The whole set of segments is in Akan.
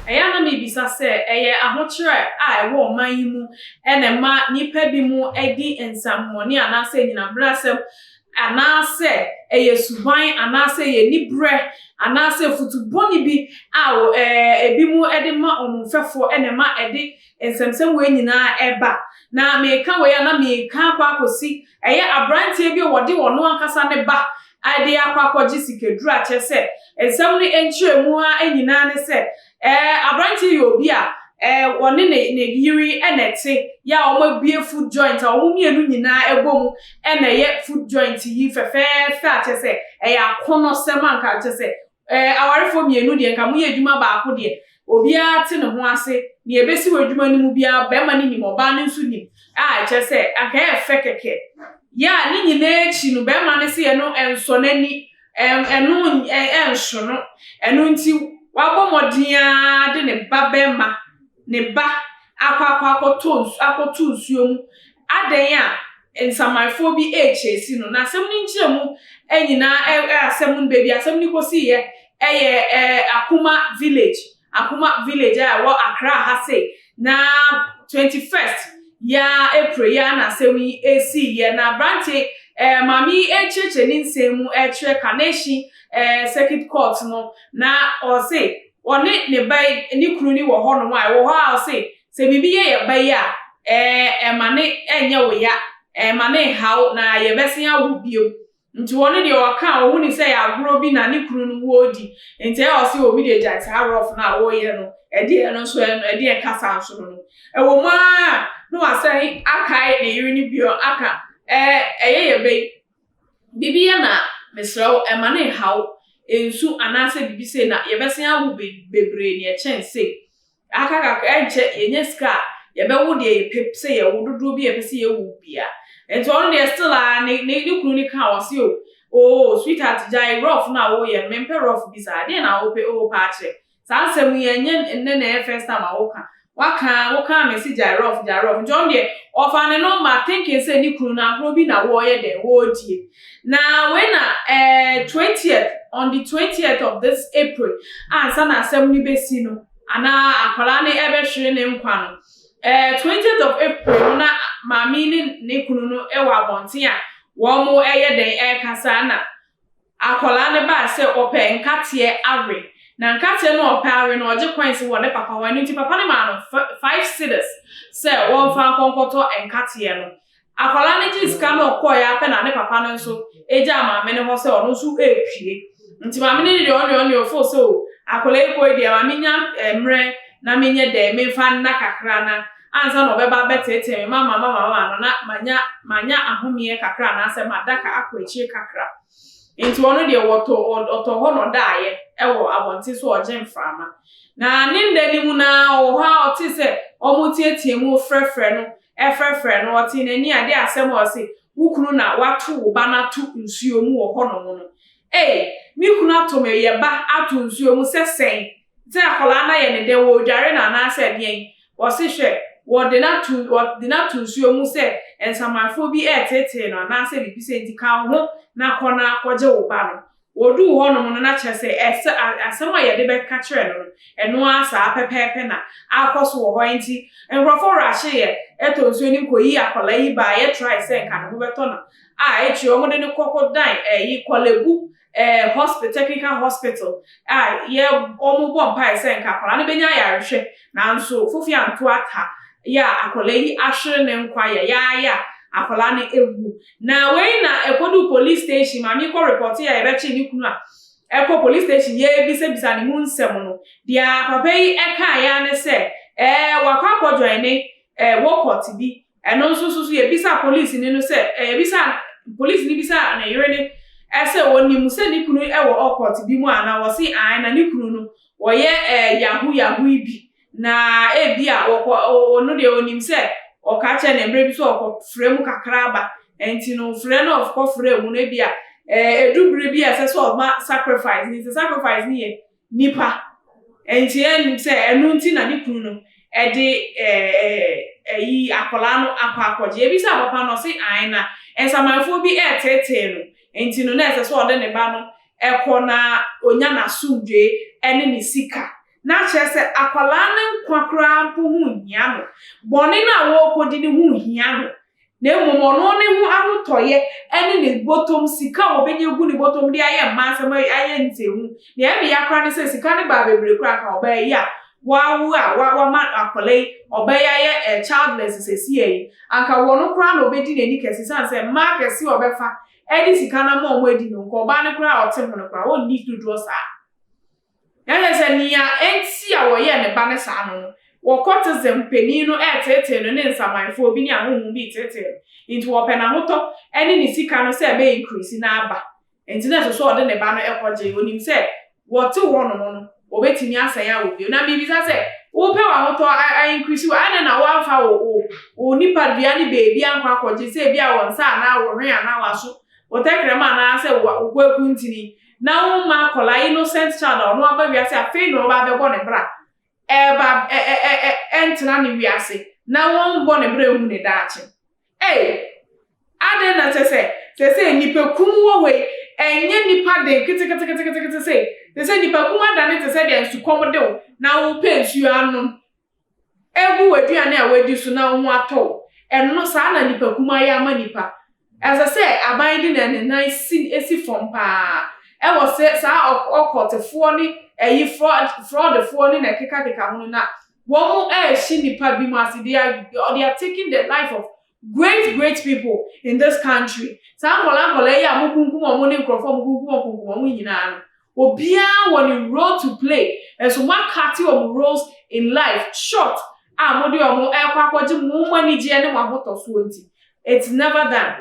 Ɛyɛ a na mibisa sɛ, ɛyɛ ahokyerɛ a ɛwɔ ɔman yi mu na ɛma nnipa binom di nsɛmmɔne anaasɛ anyinambrasɛm, anaasɛ ɛyɛ suban, anaasɛ ɛyɛ aniberɛ, anaasɛ afutu bɔne bi a ebinom de ma wɔn mfɛfoɔ na ɛma ɛde Nsɛmnsɛm wei nyinaa ɛba, na meka wei a na meka akɔ akɔsi, ɛyɛ abranteɛ bi a ɔde ɔno ankasa ne ba de akɔ akɔgye sikaduru a kyerɛ sɛ nsɛm no nkyerɛmu ara nyinaa ne sɛ ɛɛ abranteɛ yɛ obi a ɛɛ ɔne ne ne yere na ɛte yɛ a wɔn abue food joint a wɔn mmienu nyinaa ɛbɔ mu na ɛyɛ food joint yi fɛfɛɛfɛ a kyerɛ sɛ ɛyɛ akɔnɔsɛm anka kyerɛ sɛ Eh, awarefoɔ mmienu deɛ, nka moyɛ adwuma baako deɛ, obiara te ne ho ase, deɛ ɛbɛsi wɔ adwuma no mu biara, barima no nim, ɔbaa no nso nim, a ɛkyerɛ sɛ, anka ɛyɛ fɛ kɛkɛ. Yɛ a ne nyinaa akyi no, barima no se ɛno ɛnsɔ n'ani, ɛn, ɛno ɛn, ɛnso no, ɛno nti wabɔ mmɔden ara de ne ba barima ne ba akɔ akɔ akɔtɔ nsu akɔto nsuo mu adɛn a nsamanfoɔ bi rekyɛɛsi no. N'asɛm no nkyerɛmu nyinaa ɛ asɛm no baabi a asɛm no kɔsiiɛ yɛ ɛ Akuma village Akuma village a ɛwɔ Accra ha sei na twenty first yi ara April yi ara na asɛm yi siiɛ na aberanteɛ yi ɛ maame yi rekyerɛkyerɛ ne nsɛm mu rekyerɛ Kaneshie ɛ circuit court no na ɔse Ɔne ne ba yi, ne kunu no wɔ hɔnom a, ɛwɔ hɔ a ɔse, sɛ biribi yɛ yɛn ba yi a, ɛɛ, ma no nyɛ wo ya, ɛɛ, ma no nha wo, na yɛbɛsen awo bio. Nti ɔno deɛ ɔka a, ɔhu no sɛ ɛyɛ agorɔ bi na ne kunu no wɔredi, nti ɛɛ ɔse, oo, me deɛ gyae saa rough no a woreyɛ no, ɛdeɛ ɛno nso ɛɛ, ɛdeɛn kasa nso no no. Ɛwɔ mu ara a, na wasan akae ne yere no bio aka, ɛɛ, ɛyɛ yɛn ba yi, Biribi yɛ no a, mesrɛ wo, mma no nnhaw wo. Nsu anaasɛ biribi sei na yɛbɛsan awo be bebree na ɛkyɛn sei. Aka kakra a, ɛnkyɛ yɛnya sika a, yɛbɛwo deɛ yɛpɛ sɛ yɛwo, dodoɔ bi a yɛpɛ sɛ yɛwo biara. Nti ɔno deɛ still ara ne ne ne kunu no kaa wɔ se o, oo sweetheart gyae rough no a woyɛ no, mempɛ rough bi saa. Deɛn na wopɛ? Oo paakyɛ. Saa asɛm yi ɛnyɛ nnɛ na ɛyɛ first time a wo ka. Waka ara, wo kaa me se Gyrof, Gyrof. Nti ɔno deɛ ɔfaa ne number thinking sɛ ne kunu no agorɔ bi na wɔɔyɛ dɛn, wɔɔdie. Na wei na ɛɛ twentieth, on the twentieth of this April ansa na asɛm no bɛsi no, anaa akwadaa no ɛbɛhwere ne nkwa no, ɛɛ twentieth of April no na maame yi ne ne kunu no ɛwɔ abɔnten a wɔɔmo ɛɛyɛ dɛn, ɛɛkasa na Akwadaa no baa sɛ ɔpɛ nkateɛ awe. Na nkateɛ no a ɔpɛ awe no, ɔgye coins wɔ ne papa hɔ. Ɛno nti, papa no maa no fi five cedis sɛ ɔmfa nkɔ nkɔtɔ nkateɛ no. Akwadaa no gyee sika no kɔeɛ ara pɛ na ne papa no nso gyaa maame no hɔ sɛ ɔno nso repue. Nti maame no deɛ ɔne ɔne ɔfoo sɛ o, akwadaa yi kɔe deɛ, ma menya mmerɛ na menyɛ dɛn, memfa nna kakra na ansa na ɔbɛba abɛteetee me, mama mama mama no na manya manya ahomeɛ kakra anaasɛ madaka akɔ akyire kakra. Nti ɔno deɛ wɔtɔ ɔtɔ hɔ na ɔdaeɛ ɛwɔ abɔnten so ɔregye mframa. Na ne nna no mu no ara ɔwɔ hɔ ara ɔtee sɛ wɔreteatea mu refrɛfrɛ no refrɛfrɛ no, ɔtee n'ani adeɛ asɛm a ɔse wo kunu na wato wo ba no ato nsuo mu wɔ hɔnom no. Ei! Me kunu ato me yɛ ba ato nsuo mu sɛ sɛn? Sɛ akwadaa no ayɛ ne dɛ, wɔredware no anaasɛ ɛdeɛn, wɔse hwɛ, wɔde no ato wɔde no ato nsuo mu sɛ nsamanfoɔ bi reteetee no anaasɛ biribi sei nti ka wo ho na kɔ na kɔgye wo ba no. Wɔduu hɔnom no, na kyerɛ sɛ ɛsɛ a asɛm a yɛde bɛka kyerɛ no no, ɛno ara saa pɛpɛɛpɛ na akɔ so wɔ hɔ. Enti nkurɔfoɔ raahyeeɛ ɛtɔ nsuo no kɔyii akwadaa yi baa yɛtrae sɛ nka ne ho bɛtɔ no a, akyire wɔde no kɔ kɔdan ɛyi kɔlabu eh, hospital, technical hospital, a yɛ wɔn bɔ mpae sɛ nka akwadaa no bɛnya ayarehwɛ, nanso Fofi anto ata, yɛ a akwadaa yi ahwere ne nkwa yɛ, yɛ ara yɛ a akwadaa no awu. Na wei na ɛkɔduu police station, maame yi kɔ repɔte a yɛbɛkye ne kunu a ɛkɔ police station yɛrebisabisa ne mu nsɛm no, deɛ papa yi kaeɛ ara ne sɛ, eh, wakɔ akɔdwɔne eh, wɔ kɔte bi, Ɛno nso so so yɛbisaa polisini no sɛ ɛ, yɛbisaa, polisini bisaa ne yere no ɛ sɛ ɔnim sɛ ne kunu ɛ wɔ ɔkɔɔte bi mu anaa, ɔse ae, na ne kunu no ɔyɛ ɛ yahoo yahoo yi bi, na ɛbia ɔkɔ, ɔno deɛ ɔnim sɛ ɔka kyerɛ no mmerɛ bi sɛ ɔkɔ frɛ mu kakra ba, ɛnti no frɛ no ɔkɔ frɛ mu no ɛbia ɛ ɛdu bere bi a ɛsɛ sɛ ɔma sacrifice, nti sacrifice no yɛ Nnipa. Enti ɛne sɛ ɛno nti na ne kunu no de ayi akwadaa no akɔ akɔgye. Yɛbisaa papa no, ɔse ae, na nsamanfoɔ bi reteetee no, enti no na ɛsɛ sɛ ɔde ne ba no kɔ na ɔnya n'asomdwoeɛ ne ne sika. Na kyerɛ sɛ akwadaa no nkwa koraa mpo ho nhia no. Bɔne no a wɔrekɔdi no ho hia no na mmom ɔno ne ho ahotɔeɛ ne ne bɔtɔm sika a ɔbɛnya gu ne bɔtɔm de ayɛ mmaa nsɛm ayɛ nsɛnhu. Deɛ ɛne ya koraa ne sɛ sika no baa bebree koraa ka ɔbaa yi a wawo a wama akwadaa yi, ɔbaa yi ayɛ childless seesei yi, anka wɔn koraa na ɔbɛdi n'ani kɛse ɛsiane sɛ mmaa kɛse a ɔbɛfa de sika no ama wɔn adi no, nka ɔbaa no koraa a ɔte ho no koraa ɔnni dodoɔ saa. Na kyerɛ sɛ, nea enti a wɔyɛɛ ne ba no saa no, wɔkɔtesɛm panin no reteetee no ne nsamanfoɔ bi ne ahonhom bi reteetee no, enti wɔpɛ n'ahotɔ ne ne sika no sɛ ɛbɛyɛ nkuraase no ara ba, enti na ɛsɛ sɛ ɔde ne ba no kɔgye, ɔnim sɛ wɔte hɔnom no, wɔbɛtumi asan awo bio. Na merebisa sɛ, wopɛ w'ahotɔ ainkuraase wɔ ha, adɛn na woamfa wo, wo, wo nipadua no baabi ankɔ akɔgye, sɛ ebia wɔ nsa anaa wo hwen anaa w'aso, wo tɛkrɛma anaasɛ wo, wo kwaku ntini? na womma akwadaa innocent child a ɔno aba wiase afei na ɔba abɛbɔ ne bra ɛba ɛ ɛ ɛ ɛ ɛntena ne wiase na wɔnbɔ ne bra ehu ne daakye ei adɛn na kyɛ sɛ sɛ sɛ nipa kum wɔ hɔ yi ɛnyɛ nipa den keteketeketekete sɛ sɛ sɛ nipa kum adane te sɛ deɛ nsukɔm de wo na wopɛ nsuo anom egu w'aduane a woadi so na wo ho atɔ wo. Ɛno saa na nnipakumaa yi ama nnipa. Ɛsɛ sɛ aban de ne nan si si fam paa. Ɛwɔ sɛ saa ɔk ɔkɔltefoɔ ne ɛyi frɔd frɔdfoɔ ne na ɛkekakeka ho no na wɔn ɛrehye nnipa binom ase, they are they are taking the life of Great great people in this country saa nkwadaa nkwadaa yi a mo kunkum wɔn ne nkorɔfoɔ a mo kunkum wɔn kunkum wɔn nyinaa no obiara wɔ ne role to play nso mo akate wɔn roles in life short a mo de wɔn ɛkɔ akɔgye mo mo anigyeɛ ne mo ahotɔsoɔ nti it's never done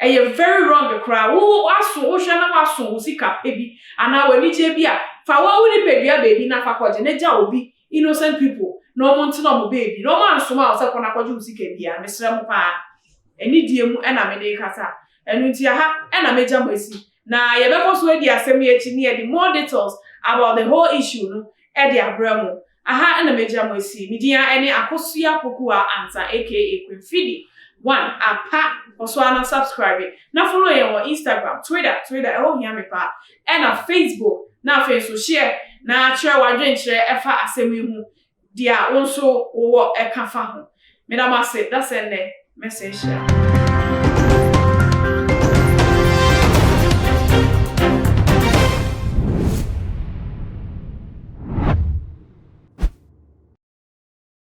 ɛyɛ very wrong koraa wo aso wo hwɛ na waso wo sika pɛ bi anaa wɔ anigyeɛ bi a fa wɔn wo nipadua baabi na fa kɔgye ne gya obi innocent people na ɔmo nte na ɔmo baabi na ɔmo ansoma wo sɛ kɔ na kɔgye wo sika biaa mesrɛ mo paa anidie mu na mede rekasa ɛno nti aha na mɛgya mo asi na yɛbɛkɔ so adi asɛm yi akyi ne yɛde more details about the whole issue no de abrɛ mo aha na mɛgya mo asi me din ara ne Akosua Pokuah Ansah aka Queen Fidi one apa kɔ so ara na subscribe na follow yɛn wɔ Instagram Twitter Twitter ɛhɔ hia me paa na Facebook na afei nso share na kyerɛ w'adwenkyerɛ ɛfa asɛm yi ho dea wo nso wo wɔ ɛka fa ho. Meda mo ase da sɛ nnɛ mɛsɛ nhyira.